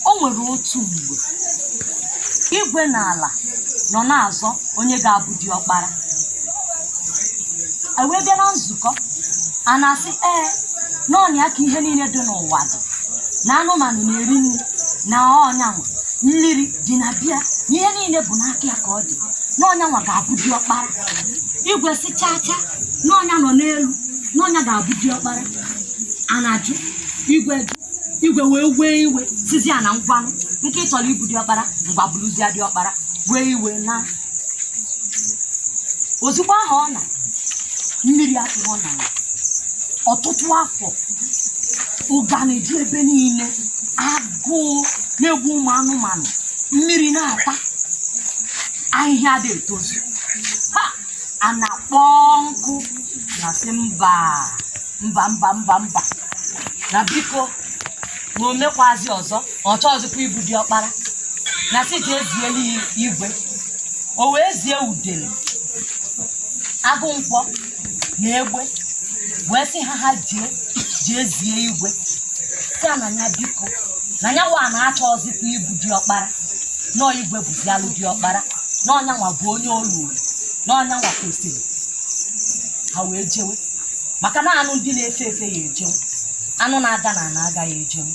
o nwere otu mgbe igwe na ala nọ na-azọ onye ga-abụ diọkpara e wee bịa na nzukọ ana asị ee na ọ na ya ka ihe niile dị n'ụwa dị na anụmanụ na-eri nri na ọ nya nwa mmiri dị na bịa na ihe niile bụ n'aka ya ka ọ dị na ọ nya nwa ga-abụ diọkpara igwe sị chaa chaa na ọ nya nọ n'elu na ọ nya ga-abụ diọkpara ana ajụ igwe wee wee iwe sịzị ya na ngwanụ nke ị chọrọ ịbụ diọkpara ngwa bụrụzie diọkpara wee iwe na ozugbo ahụ ọ na mmiri atụrụ na ọtụtụ afọ ụganị eju ebe niile agụụ na-egbu ụmụ anụmanụ mmiri na-ata ahịhịa adị etozi ana akpọ nkụ ana sị mba mba mba mba mba na biko na o mekwazi ọzọ ọ chọzikwa ịbụ diọkpara na sị jee ziela ya igwe o wee zie udele agụ nkwọ na egbe wee sị ha ha jee jee zie igwe sị ya na ya biko na ya nwa achọzikwa ịbụ diọkpara na ọọ igwe bụzialụ diọkpara na ọ nya nwa bụ onye ọrụ uri na ọ nya nwa kwesịrị ha wee jewe maka na anụ ndị na-efe efe ya-ejenwu anụ na-aga na ana agaghị ejenwu